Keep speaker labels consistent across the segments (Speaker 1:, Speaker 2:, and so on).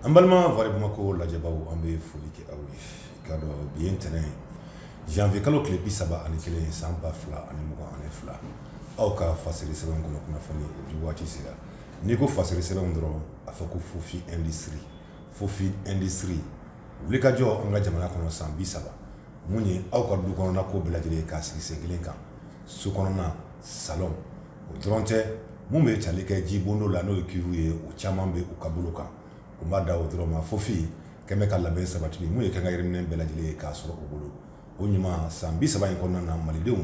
Speaker 1: An balima vrai bamako lajɛbaaw an bɛ foli kɛ aw ye k'a dɔn bi ye ntɛnɛn ye janvier kalo tile bi saba ani kelen ye san ba fila ani mugan ani fila aw ka fasiri sɛbɛnw kɔnɔ kunnafoni di waati sera n'i ko fasiri sɛbɛnw dɔrɔn a fɔ ko fofi industrie fofi industrie wuli ka jɔ an ka jamana kɔnɔ san bi saba mun ye aw ka du kɔnɔna ko bɛɛ lajɛlen ye k'a sigi sen kelen kan so kɔnɔna salon o dɔrɔn tɛ mun bɛ tali kɛ ji bondo la n'o ye cuve ye o caman bɛ u ka bolo kan u ma dan o dɔrɔn ma fofi kɛmɛ ka labɛn sabati bi mun ye k'an ka yiriminɛn bɛɛ lajɛlen ye k'a sɔrɔ u bolo o ɲuman san bi saba in kɔnɔna na malidenw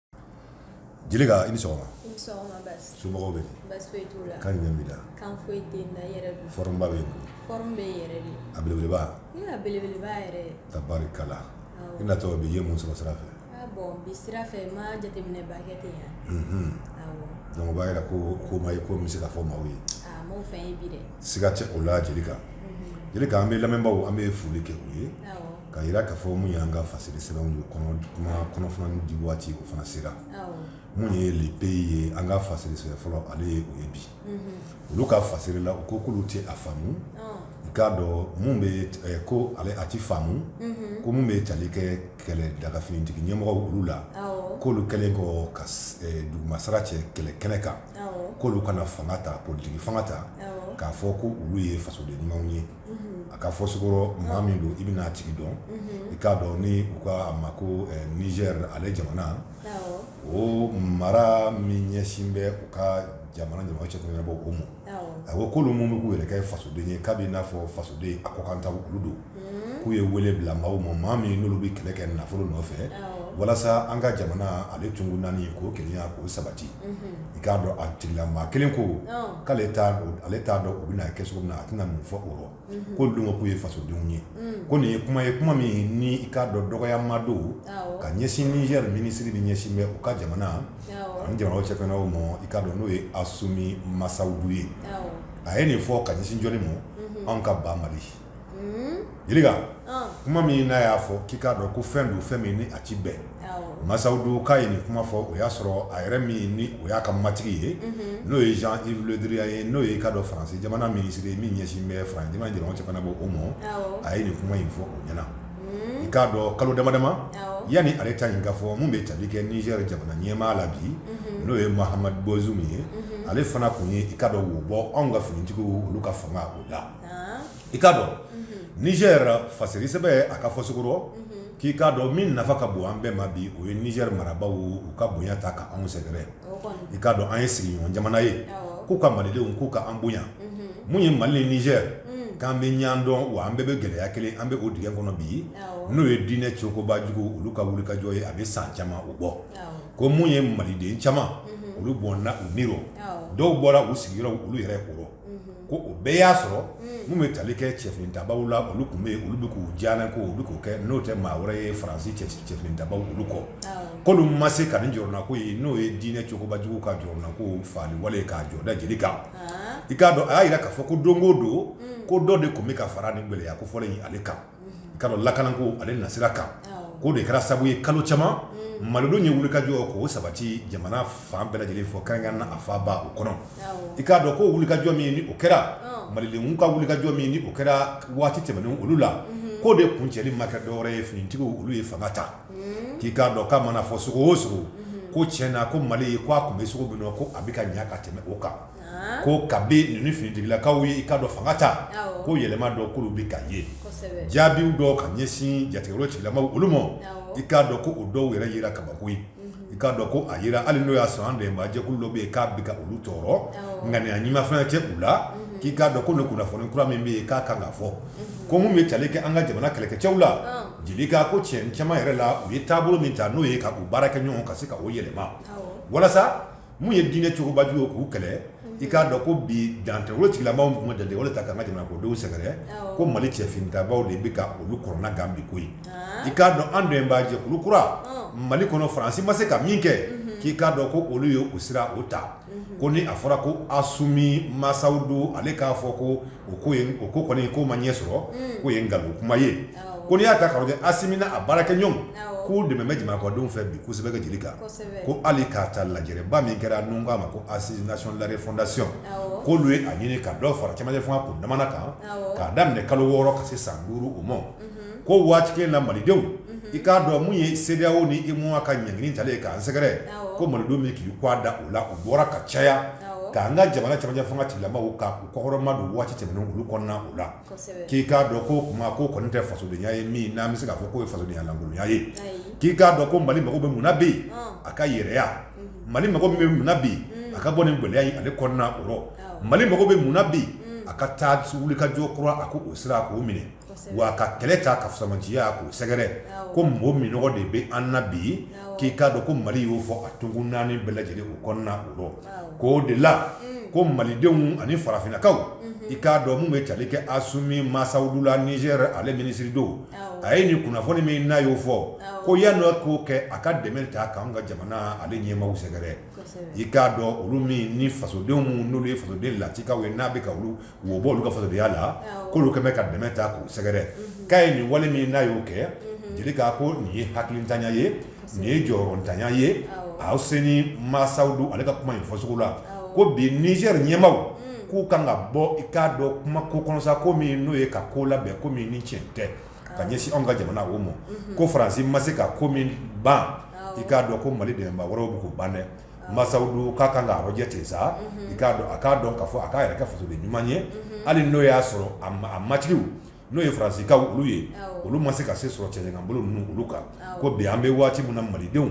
Speaker 1: Jelikɛ i ni sɔgɔma somɔgɔw bɛ bɛ abelebelebabakala i na tɔgɔ bɛ ye mun sɔrɔ sira fɛ don'a jira ko ko ma ko bɛ se ka fɔ maaw ye siga tɛ o la jelikɛ jelikɛ an bɛ lamɛnbagaw an bɛ foli kɛ u ye ka jira ka fɔ mun y'an ka fasiri sɛbɛnw ye kunnafoni di waati o fana sera mun ye le pays ye an ka fasiri sɛbɛn fɔlɔ ale ye o ye bi olu ka fasiri la u ko k'olu tɛ a faamu i k'a dɔn minnu bɛ ko ale a tɛ faamu ko minnu bɛ tali kɛ kɛlɛ daga finitigi ɲɛmɔgɔw olu la k'olu kɛlen kɔ ka dugumasara cɛ kɛlɛ kɛnɛ kan k'olu ka na fanga ta politiki fanga ta k'a fɔ ko olu ye fasoden ɲumanw ye a ka fɔcogo rɔ maa min don i bɛna a tigi dɔn i k'a dɔn ni u k'a ma ko nizɛri ale jamana o mara min ɲɛsin bɛ u ka jamana ɲɔgɔn cɛ bɔ o ma a ko k'olu minnu bɛ k'u yɛrɛ kɛ fasoden ye k'a b'i n'a fɔ fasoden a kɔkan ta olu don k'u ye wele bila maaw ma maa min n'olu bɛ kɛlɛ kɛ nafolo nɔfɛ walasa an ka jamana ale tonkun naani ka kelenya ka sabati i k'a dɔn a tigilamaa kelen ko k'ale ale t'a dɔn u bɛna a kɛ cogo min na a tɛna mun fɔ o rɔ k'olu don k'u ye fasodenw ye ko nin ye kuma ye kuma min ni i k'a dɔn dɔgɔyama don ka ɲɛsin nizɛri minisiri min ɲɛsin bɛ u ka jamana ani jamana cɛ o ma i k'a dɔn n'o ye asumi masawudu ye a ye nin fɔ ka ɲɛsin jɔni ma anw ka ba mali kuma min n'a y'a fɔ k'i k'a dɔn ko fɛn don fɛn min a ci bɛɛ masawudu k'a ye nin kuma fɔ o y'a sɔrɔ a yɛrɛ min ni o y'a ka matigi ye n'o ye jean yves le drian ye n'o ye i k'a dɔn faransi jamana minisiri ye min ɲɛsin bɛ fara jamana jama fana bɔ o ma a ye nin kuma in fɔ o ɲɛna i k'a dɔn kalo dama dama yanni ale ta nin ka fɔ min bɛ tali kɛ nizɛri jamana ɲɛmaa la bi n'o ye mohamed bazoum ye ale fana tun ye i k'a dɔn o bɔ anw ka finitigiw olu ka fanga o la i k'a dɔn nizɛr fasiri sɛbɛ a ka fɔcogo rɔ k'i k'a dɔn min nafa ka bon an bɛɛ ma bi o ye nizɛri marabaaw ka bonya ta ka anw sɛgɛrɛ i k'a dɔn an ye sigiɲɔgɔn jamana ye k'u ka malidenw k'u ka an bonya min ye mali ni nizɛr k'an bɛ ɲɔgɔn dɔn wa an bɛɛ bɛ gɛlɛya kelen an bɛ o dingɛ kɔnɔ bi n'o ye diinɛ cogoba jugu olu ka wulikajɔ ye a bɛ san caman o bɔ ko min ye maliden caman olu bɔnɛna u ni rɔ dɔw bɔra u sigiyɔrɔ olu yɛrɛ o rɔ ko o bɛɛ y'a sɔrɔ minnu bɛ tali kɛ cɛfinitabaaw la olu tun bɛ olu bɛ k'u jalaki u bɛ k'o kɛ n'o tɛ maa wɛrɛ ye faransi cɛfinitabaaw olu kɔ k'olu ma se ka nin jɔrɔnanko ye n'o ye diinɛ cogobajugu ka jɔrɔnanko faali wale k'a jɔ da jelikɛ kan i k'a dɔn a y'a jira k'a fɔ ko don o don ko dɔ de tun bɛ ka fara nin gɛlɛya kofɔlen ye ale kan ka lakanako ale nasira kan k'o de kɛra sabu ye kalo caman malidenw ye wulikajɔ k'o sabati jamana fan bɛɛ lajɛlen fɔ kɛrɛnkɛrɛnnenya la a faba o kɔnɔ i k'a dɔn ko wulikajɔ min ye n'o kɛra malidenw ka wulikajɔ min ye n'o kɛra waati tɛmɛnenw olu la k'o de kuncɛli ma kɛ dɔ wɛrɛ ye finitigiw olu ye fanga ta k'i k'a dɔn k'a mana fɔ cogo o cogo ko tiɲɛ na ko mali k'a tun bɛ cogo min na ko a bɛ ka ɲɛ ka tɛmɛ o kan ko kabini finitigilakaw ye i k'a dɔn fanga ta ko yɛlɛma dɔ k'olu bɛ ka ye jaabiw dɔ ka ɲɛsin jatigɛwale tigilamaaw olu ma i k'a dɔn ko o dɔw yɛrɛ jira kabako ye i k'a dɔn ko a jira hali n'o y'a sɔrɔ an dɛmɛbaa jɛkulu dɔ bɛ yen k'a bɛ ka olu tɔɔrɔ ŋaniya ɲuman fana tɛ u la k'i k'a dɔn ko nin kunnafoni kura min bɛ yen k'a kan ka fɔ ko minnu bɛ tali kɛ an ka jamana kɛlɛkɛcɛw la jeli k'a ko tiɲɛ caman yɛrɛ la u ye taabolo min ta n'o ye ka u baarakɛɲɔgɔn ka se ka o yɛlɛma walasa Min ye diinɛ cogobajugu ye k'u kɛlɛ i k'a dɔn ko bi dantɛmɛwale tigilamaaw tun ma dantɛmɛwale ta ka an ka jamana ko denw sɛgɛrɛ ko Mali cɛfinitabaaw de bɛ ka olu kɔnɔna gan bi ko in i k'a dɔn an dɛmɛnbaa jɛkulu kura Mali kɔnɔ Faransi ma se ka min kɛ k'i k'a dɔn ko olu ye o sira o ta ko ni a fɔra ko Asimi masaw don ale k'a fɔ ko o ko o ko kɔni k'o ma ɲɛ sɔrɔ mm. k'o ye nkalon kuma ye ko n'i y'a ta kolonɛli asimi n'a baarakɛɲɔgɔn k'u dɛmɛnen bɛ jamanadenw fɛ bi kosɛbɛ ka jelikɛ kan ko hali k'a ta lajɛba min kɛra n'u k'a ma ko assises nationales de la refondation k'olu ye a ɲini ka dɔw fara camancɛ fanga kuntaala kan k'a daminɛ kalo wɔɔrɔ ka se san duuru o ma mhm. ko waati kelen na malidenw mhm. i k'a dɔn min ye CEDEAO ni UEMOA ka ɲangili talen ye k'an sɛgɛrɛ ko malidenw min k'i' da u la u bɔra ka caya k'an ka jamana camancɛ fanga tigilamɔgɔw kɔkɔrɔmadon waati tɛmɛnen olu kɔnɔna o la k'i k'a dɔn ko kuma ko kɔni tɛ fasodenya ye min n'an bɛ se k'a fɔ k'o ye fasodenya lankolonya ye k'i k'a dɔn ko mali mago bɛ mun na bi a ka yɛrɛya mali mago bɛ mun na bi a ka bɔ nin gɛlɛya ye ale kɔnɔna o rɔ mali mago bɛ mun na bi a ka taa wulikajɔ kura a ko o sira k'o minɛ wa ka kɛlɛ ta k'a sɛmɛntiya k'u sɛgɛrɛ ko mɔgɔ min de bɛ an na bi ye k'i k'a dɔn ko mali y'o fɔ a tonkun naani bɛɛ lajɛlen u kɔnɔna o k'o de la ko malidenw ani farafinnakaw i k'a dɔn minnu bɛ tali kɛ asumi masawudu la nizɛri ale minisiri don a ye nin kunnafoni min n'a y'o fɔ ko yan dɔ k'o kɛ a ka dɛmɛ ta k'an ka jamana ale ɲɛmaw sɛgɛrɛ i k'a dɔn olu min ni fasodenw minnu n'olu ye fasoden latikaw ye n'a bɛ ka olu wo b'olu ka fasodenya la Awɔ. k'olu kɛlen bɛ ka dɛmɛ ta k'u sɛgɛrɛ k'a ye nin wale min n'a y'o kɛ jeli k'a ko nin ye hakilintanya ye nin ye jɔyɔrɔntanya ye Awɔ. awseni masawudu ale ka kuma in fɔcogo la Awɔ. ko bi nizɛri ɲɛmaaw k'u kan ka bɔ i k'a dɔn kuma ko kɔnɔsa ko min n'o ye ka ko labɛn ko min ni tiɲɛ tɛ ka ɲɛsin anw ka jamana o ma ko faransi ma se ka ko min ban i k'a dɔn ko mali dɛmɛbaa wɛrɛw bɛ k'o ban dɛ masawudu k'a kan k'a lajɛ ten sa i k'a dɔn a k'a dɔn k'a fɔ a k'a yɛrɛ kɛ fasoden ɲuman ye hali n'o y'a sɔrɔ a matigi n'o ye faransikaw olu ye olu ma se ka se sɔrɔ cɛncɛn kan bolo ninnu olu kan ko bi an bɛ waati min na malidenw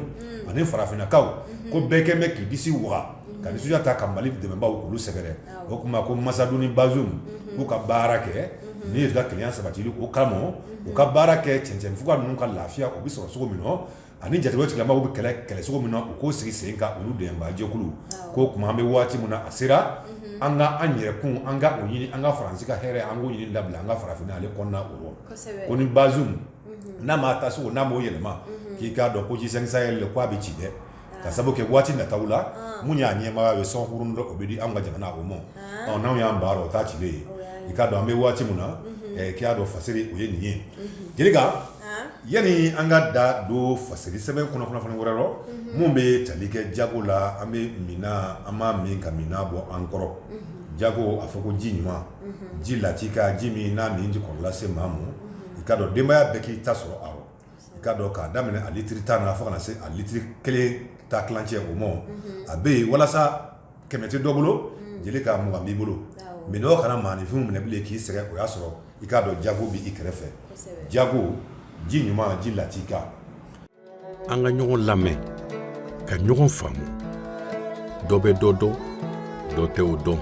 Speaker 1: ani farafinnakaw ko bɛɛ kɛlen bɛ k'i disi waga ka nisɔndiya ta ka mali dɛmɛbaw olu sɛgɛrɛ o tuma ko masawudu ni bazum k'u ka baara kɛ ni ye ka kelenya sabatili kama u ka baara kɛ cɛncɛnfuga ninnu ka lafiya u bɛ sɔrɔ cogo min na ani ni jatigɛ tigilamaaw bɛ kɛlɛ kɛlɛ cogo min na u k'o sigi sen kan olu dɛmɛbaajɛkulu k'o tuma an bɛ waati min na a sera an ka an yɛrɛkun an k'o ɲini an ka faransi ka hɛrɛ an k'o ɲini dabila an ka farafinna na ale kɔnɔna o rɔ ko ni bazum n'a m'a taacogo n'a m'o yɛlɛma k'i k'a dɔn ko ze sɛnki sahɛli k' a bɛ ci dɛ k'a sababu kɛ waati nata la mun y'a ɲɛmaaya ye sɔnkurun dɔ o bɛ di an ka jamana o ma ɔ n'anw y'an baro ta cilen ye i k'a dɔn an bɛ waati min na k'i y'a dɔn fasiri o ye nin ye jeli ka yanni an ka da don fasiri sɛbɛn kɔnɔ kunnafoni wɛrɛ rɔ minnu bɛ tali kɛ jago la an bɛ min an b'a min ka minnɔgɔ bɔ an kɔrɔ jago a fɔ ko ji ɲuman ji latika ji min n'a min tɛ kɔnɔ lase maa ma i kaa dɔn denbaya bɛɛ k'i ta sɔrɔ a rɔ i kaa dɔn k'a daminɛ a litiri tan na fo ka na se a litiri kelen ta kicɛ o ma a bɛ yen walasa kɛmɛ tɛ dɔ bolo jeli k'a mugan b'i bolo minnɔgɔ kana maaninfin minɛ bilen k'i sɛgɛn o y'a sɔrɔ i k'a dɔn jago bɛ i kɛrɛfɛ jago ji ɲuman ji latika an ka ɲɔgɔn lamɛn ka ɲɔgɔn faamu dɔ bɛ dɔ dɔn dɔ tɛ o dɔn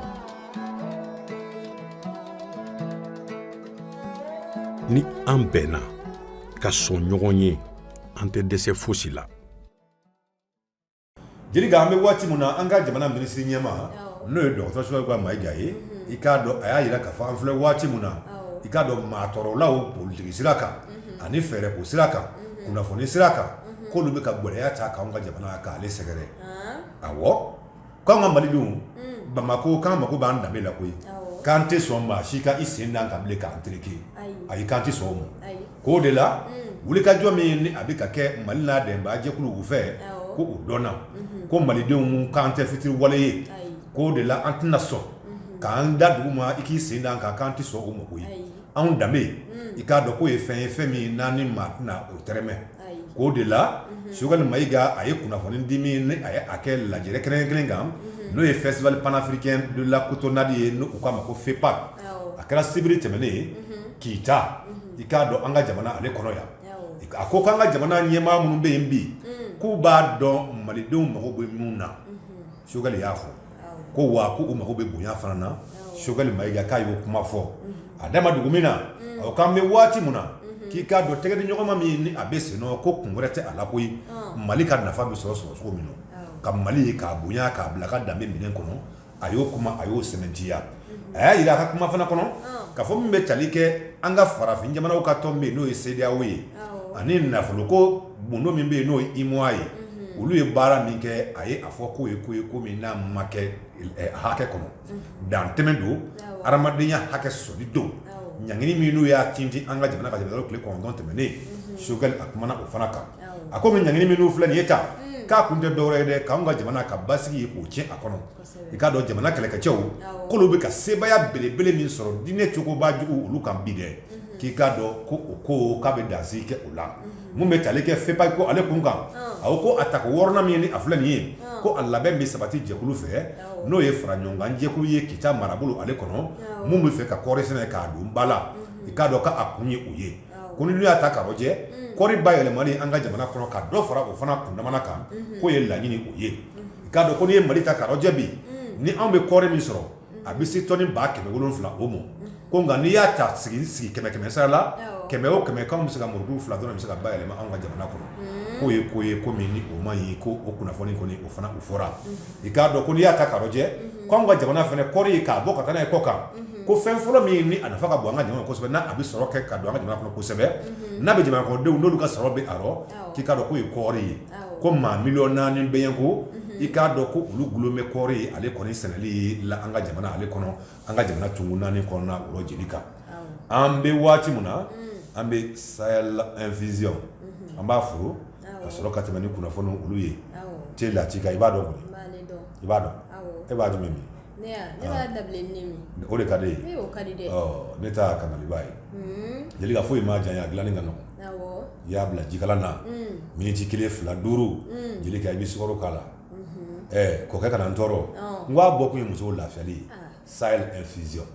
Speaker 1: ni an bɛnna ka sɔn ɲɔgɔn ye an tɛ dɛsɛ fosi la Jeli an bɛ waati min na an ka jamana minisiri ɲɛmaa n'o ye dɔgɔtɔrɔ Sogɛli Mayiga ye i k'a dɔn a y'a jira ka fɔ an filɛ waati min na i k'a dɔn maatɔɔrɔlaw politigi sira kan ani fɛɛrɛ ko sira kan kunnafoni sira kan k'olu bɛ ka gɛlɛya ta k'an ka jamana k'ale sɛgɛrɛ awɔ k'an ka malidenw bamakɔ k'an mako b'an danbe la koyi k'an tɛ sɔn maa si ka i sen d'an kan k'an tereke ayi k'an tɛ sɔn o ma K'o de la wulikajɔ min ni a bɛ ka kɛ mali n'a dɛmɛbaa jɛkuluw fɛ ko u dɔnna ko malidenw k'an tɛ fitiriwale ye k'o de la an tɛna sɔn k'an da dugu ma i k'i sen d'an kan k'an tɛ sɔn o ma k'o ye anw danbe i k'a dɔn k'o ye fɛn ye fɛn min n'an ni maa tɛna o tɛrɛmɛ k'o de la Sogɛli Mayiga a ye kunnafoni di min ni a ye a kɛ lajɛrɛ kɛnɛ kelen kan n'o ye festival panafricain de la cotonnade ye n'u k'a ma ko FEPAC a kɛra sibiri tɛmɛnen ye Kita i k'a dɔn an ka jamana ale kɔnɔ yan a ko k'an ka jamana ɲɛmaa minnu bɛ yen bi k'u b'a dɔn malidenw mago bɛ min na Sogɛli y'a fɔ ko wa k'u mago bɛ bonya fana na Sogɛli Mayiga k'a y'o kuma fɔ a da ma dugu min na awɔ k'an bɛ waati min na k'i k'a dɔn tɛgɛdiɲɔgɔnma min ni a bɛ sen nɔ ko kun wɛrɛ tɛ a la koyi mali ka nafa bɛ sɔrɔ sɔrɔ cogo min na ka mali k'a bonya k'a bila ka danbe minɛn kɔnɔ a y'o kuma a y'o sɛmɛntiya a y'a jira a ka kuma fana kɔnɔ ka fɔ min bɛ tali kɛ an ka farafin jamanaw ka tɔn min bɛ yen n'o ye CEDEAO ye ani nafolo ko bondo min bɛ yen n'o ye UEMOA ye olu ye baara min kɛ a ye a fɔ k'o ye ko ye ko min n'a ma kɛ hakɛ kɔnɔ dantɛmɛ don hadamadenya hakɛ sɔsɔli don ɲangili min n'u y'a tintin an ka jamana kan tile kɔnɔntɔn tɛmɛnen Sogɛli a kumana o fana kan a ko bi ɲangili minnu filɛ nin ye tan k'a kun tɛ dɔ wɛrɛ ye dɛ k'an ka jamana ka basigi ye k'o tiɲɛ a kɔnɔ i k'a dɔn jamana kɛlɛkɛcɛw k'olu bɛ ka sebaaya belebele min sɔrɔ diinɛ cogobajugu olu kan bi dɛ k'i k'a dɔn ko o ko k'a bɛ dansigi kɛ o la min bɛ tali kɛ FEPAC ko ale kun kan awɔ ko a tako wɔɔrɔnan min ni a filɛ nin ye ko a labɛn bɛ sabati jɛkulu fɛ n'o ye fara ɲɔgɔnkan jɛkulu ye Kita marabolo ale kɔnɔ minnu bɛ fɛ ka kɔɔri sɛnɛ k'a don ba la i k'a dɔn k'a kun ye o ye ko n'i y'a ta k'a rɔjɛ kɔri bayɛlɛmali an ka jamana kɔnɔ ka dɔ fara o fana kundama kan k'o ye laɲini o ye i k'a dɔn ko n'i ye mali ta k'a rɔjɛ bi ni anw bɛ kɔri min sɔrɔ a bɛ se tɔni ba kɛmɛ wolonwula o ma ko nka n'i y'a ta sigi sigi kɛmɛ kɛmɛ sara la kɛmɛ o kɛmɛ k'anw bɛ se ka muru fila dɔrɔn bɛ se ka bayɛlɛma an ka jamana kɔnɔ k'o ye ko ye ko min ni o ma ɲɛ ko o kunnafoni kɔni o fana o fɔra i k'a dɔn ko n'i y'a ta k'a rɔjɛ unhun ko anw ka jamana fɛnɛ kɔri ye k'a bɔ ka taa n'a ye kɔkan unhun ko fɛn fɔlɔ min ni a nafa ka bon an ka jamana ma kosɛbɛ ni a be sɔrɔ kɛ ka don an ka jamana kɔnɔ kosɛbɛ unhun n'a be jamanakɔnɔdenw n'olu ka sɔrɔ be a rɔ awɔ k'i k'a dɔn k'o ye kɔɔri ye awɔ ko maa million 4 be yen ko unhun i k'a dɔn ko olu gulon be kɔɔri ale kɔni sɛnɛli la an ka jamana ale kɔnɔ an ka jamana tonkun naani kɔnɔna o jelika an bɛ waati min na an bɛ sahel infusion an b'a furu ka sɔrɔ ka tɛmɛ ni kunnafoni olu ye te lakika i b'a dɔn kɔnɔ i b'a dɔn e b'a dun min o de ka di ye ne ta kɛnkɛliba ye jelika foyi i ma jan a dilanni ka nɔgɔ i y'a bila jikalan na miniti kelen fila duuru jelika i bɛ sukaro k'a la kɔ kana n tɔɔrɔ n'a bɔ kun ye musow lafiyali ye sahel infusion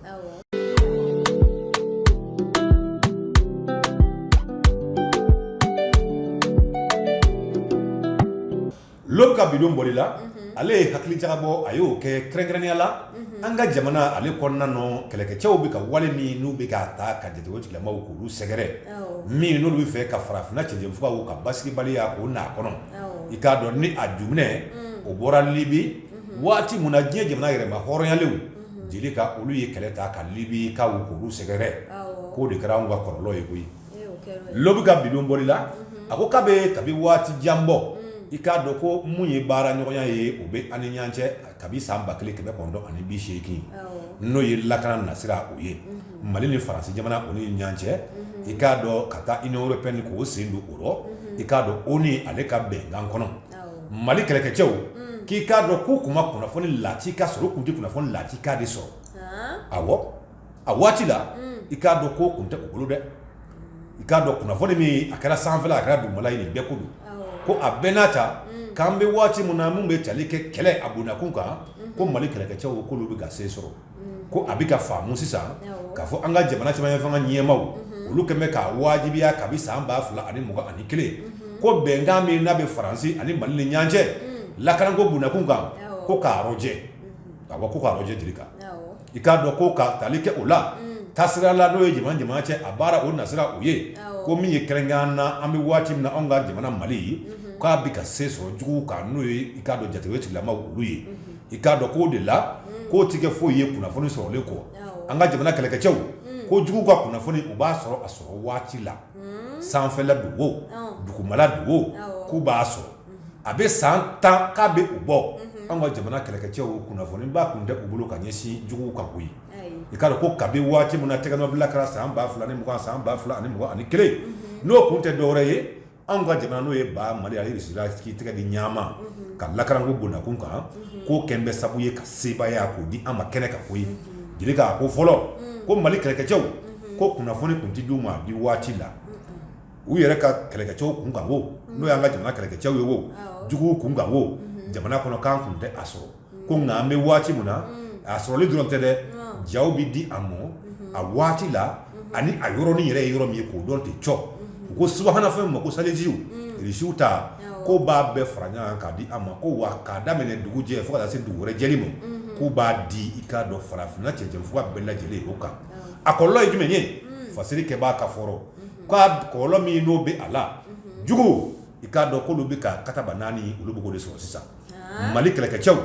Speaker 1: l'aube ka bi don bɔli la ale ye hakilijagabɔ a y'o kɛ kɛrɛnkɛrɛnya la an ka jamana ale kɔnɔna nɔ kɛlɛkɛcɛw bɛ ka wale min n'u bɛ k'a ta ka jatigɛko tigilamaw k'olu sɛgɛrɛ min n'olu b'a fɛ ka farafinna cɛncɛnfuga ka basigibaliya k'o na kɔnɔ i k'a dɔn ni a ju o bɔra libi waati min na diɲɛ jamana yɛrɛmahɔrɔnyalenw jelika olu ye kɛlɛ ta ka libikaw k'olu sɛgɛrɛ k'o de kɛra anw ka kɔlɔlɔ ye koyi l'aube ka bi don bɔli la a ko k'a bɛ kabi waati jan bɔ i k'a dɔn ko minnu ye baara ɲɔgɔnya ye o bɛ an ni ɲɔgɔn cɛ kabi san ba kelen kɛmɛ kɔnɔntɔn ani bi seegin n'o ye lakana nasira u ye mali ni faransi jamana o ni ɲɔgɔn cɛ i k'a dɔn ka taa union européenne k'o sen don o rɔ i k'a dɔn o ni ale ka bɛnkan kɔnɔ mali kɛlɛkɛcɛw k'i k'a dɔn k'u tun ma kunnafoni lakika sɔrɔ tun tɛ kunnafoni lakika de sɔrɔ a a waati la i k'a dɔn k'o tun tɛ u bolo dɛ i k'a dɔn kunnafoni min a kɛra sanfɛ a kɛra dugumala ye bɛɛ ko ko a bɛɛ n'a ta k'an bɛ waati min na minnu bɛ tali kɛ kɛlɛ a bondakun kan ko mali kɛlɛkɛcɛw k'olu bɛ ka se sɔrɔ ko a bɛ ka faamu sisan k'a fɔ an ka jamana cɛmancɛ fanga ɲɛmaaw olu kɛlen bɛ k'a wajibiya kabi san ba fila ani mugan ani kelen ko bɛnkan min n'a bɛ faransi ani mali ni ɲɔgɔn cɛ lakana ko bondakun kan ko k'a rɔjɛ ka bɔ ko k'a rɔjɛ jelika i k'a dɔn ko ka tali kɛ o la ta sira la n'o ye jamana jamana cɛ a baara o nasira u ye ko min ye kɛrɛnkɛrɛnya na an bɛ waati min na an ka jamana mali ye k'a bɛ ka se sɔrɔ jugu kan n'o ye i k'a dɔn jatigɛ tigilamaw olu ye i k'a dɔn k'o de la k'o tɛ kɛ foyi ye kunnafoni sɔrɔli kɔ an ka jamana kɛlɛkɛcɛw ko jugu ka kunnafoni u b'a sɔrɔ a sɔrɔ waati la sanfɛla don o dugumala don o k'u b'a sɔrɔ a bɛ san tan k'a bɛ o bɔ an ka jamana kɛlɛkɛcɛw kunnafoniba tun tɛ u bolo ka ɲɛsin juguw kan koyi i k'a dɔn ko kabi waati min na tɛgɛnɔbila kɛra san ba fila ni san ba fila ani mugan ani kelen n'o tun tɛ dɔ wɛrɛ ye anw ka jamana n'o ye ba mali ani irisila ka tɛgɛ di ɲɔgɔn ma ka lakanako bondakun kan k'o kɛlen bɛ sabu ye ka sebaaya k'o di an ma kɛnɛ kan koyi jelika ko fɔlɔ ko mali kɛlɛkɛcɛw ko kunnafoni tun tɛ di u ma di waati la u yɛrɛ ka kɛlɛkɛcɛw kun kan o n'o y'an ka jamana kɛlɛkɛcɛw ye o juguw kun kan o jamana kɔnɔ k'an tun tɛ a sɔrɔ ko nka an bɛ waati min na a sɔrɔli dɔrɔn tɛ dɛ ja bɛ di a ma a waati la ani a yɔrɔnin yɛrɛ ye yɔrɔ min ye k'o dɔn tɛ c u ko subahanafi ma ko selijisiwsiww ta ko b'a bɛɛ fara ɲɔgɔn k'a di a ma ko wa k'a daminɛ dugujɛ fo se dugu wɛrɛ lajɛli ma ko b'a di i k'a dɔn farafinna cɛfa bɛɛ lajɛlen o kan a kɔlɔ ye jumɛn ye fasiri kɛ b'a ka fɔlɔ k' kɔlɔ min n'o bɛ a la jugu i k'a dɔn ko olu bɛ ka kata naani olu b'o de sɔrɔ sisan mali kɛlɛkɛcɛw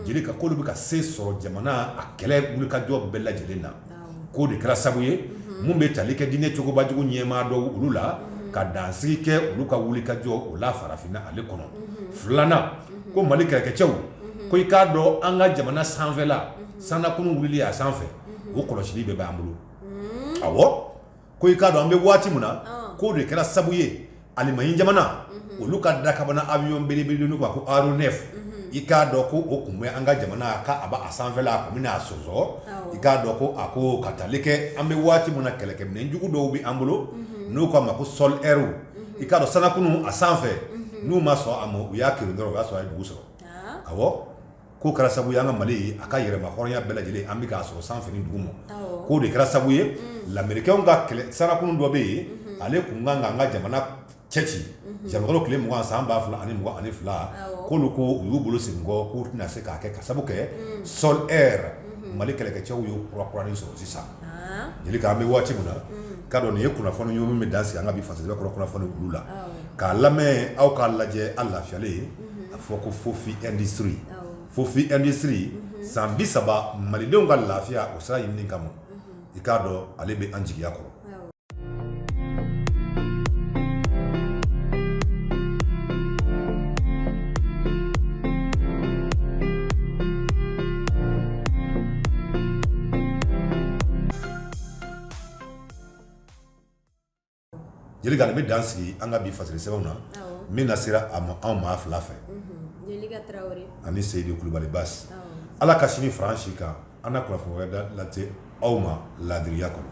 Speaker 1: jelika k'olu bɛ ka se sɔrɔ jamana a kɛlɛ wulikajɔ bɛɛ lajɛlen na k'o de kɛra sabu ye minnu bɛ tali kɛ diinɛ cogobajugu ɲɛmaa dɔw olu la ka dansigi kɛ olu ka wulikajɔ o la farafinna ale kɔnɔ filanan ko mali kɛlɛkɛcɛw ko i k'a dɔn an ka jamana sanfɛla sannakurun wuli a sanfɛ o kɔlɔsili bɛɛ b'an bolo awɔ ko i k'a dɔn an bɛ waati min na k'o de kɛra sabu ye alimaɲi jamana olu ka dakabana awiyɔn belebele kan ko aw ne i k'a dɔn ko o tun bɛ an ka jamana k' a a sanfɛ a tun bɛ a sonsɔn i k'a dɔn ko a ko ka taali kɛ an bɛ waati min na kɛlɛkɛminɛ jugu dɔw bɛ an bolo n'u k'a ma ko sɔli ɛri i k'a dɔn sannakurun a sanfɛ n'u ma sɔn a ma u y'a kerun dɔrɔn u y'a sɔrɔ a ye dugu sɔrɔ awɔ K'o kɛra sabu an ka mali a ka yɛlɛma hɔrɔnya bɛɛ lajɛlen an bɛ k'a sɔrɔ sanfɛ ni duguma k'o de kɛra sabu ye lamerikɛnw ka kɛlɛ sannakurun dɔ bɛ yen ale tun kan ka an ka jamana cɛci jakɔrɔ tile mugan san ba fila ani ani fila ko olu ko u y'u bolo sigi kɔ k'u tɛna se k'a kɛ ka sabu kɛ sɔ mali kɛlɛkɛcɛw y'u kura kura ni sɔrɔ sisan jeli an bɛ waati min na ka dɔn nin ye kunnafoni ɲumanw bɛ dansigi an ka bi fasiri kɔrɔ kunnafoni la k'a lamɛn aw k'a lajɛ an lafiyalen ye a fɔ ko fofi industrie fofi industrie san bi saba malidenw ka lafiya o sira ɲinini kama i k'a dɔn ale bɛ an jigiya kɔrɔ Jelika nin bɛ dansigi an ka bi fasirisɛbɛnw na min na sera aw ma anw maa fila fɛ ani seyidu kulubali basi ala ka sini fara an si kan an na kunnafoni wɛrɛ dɔ lase aw ma laadiriya kɔnɔ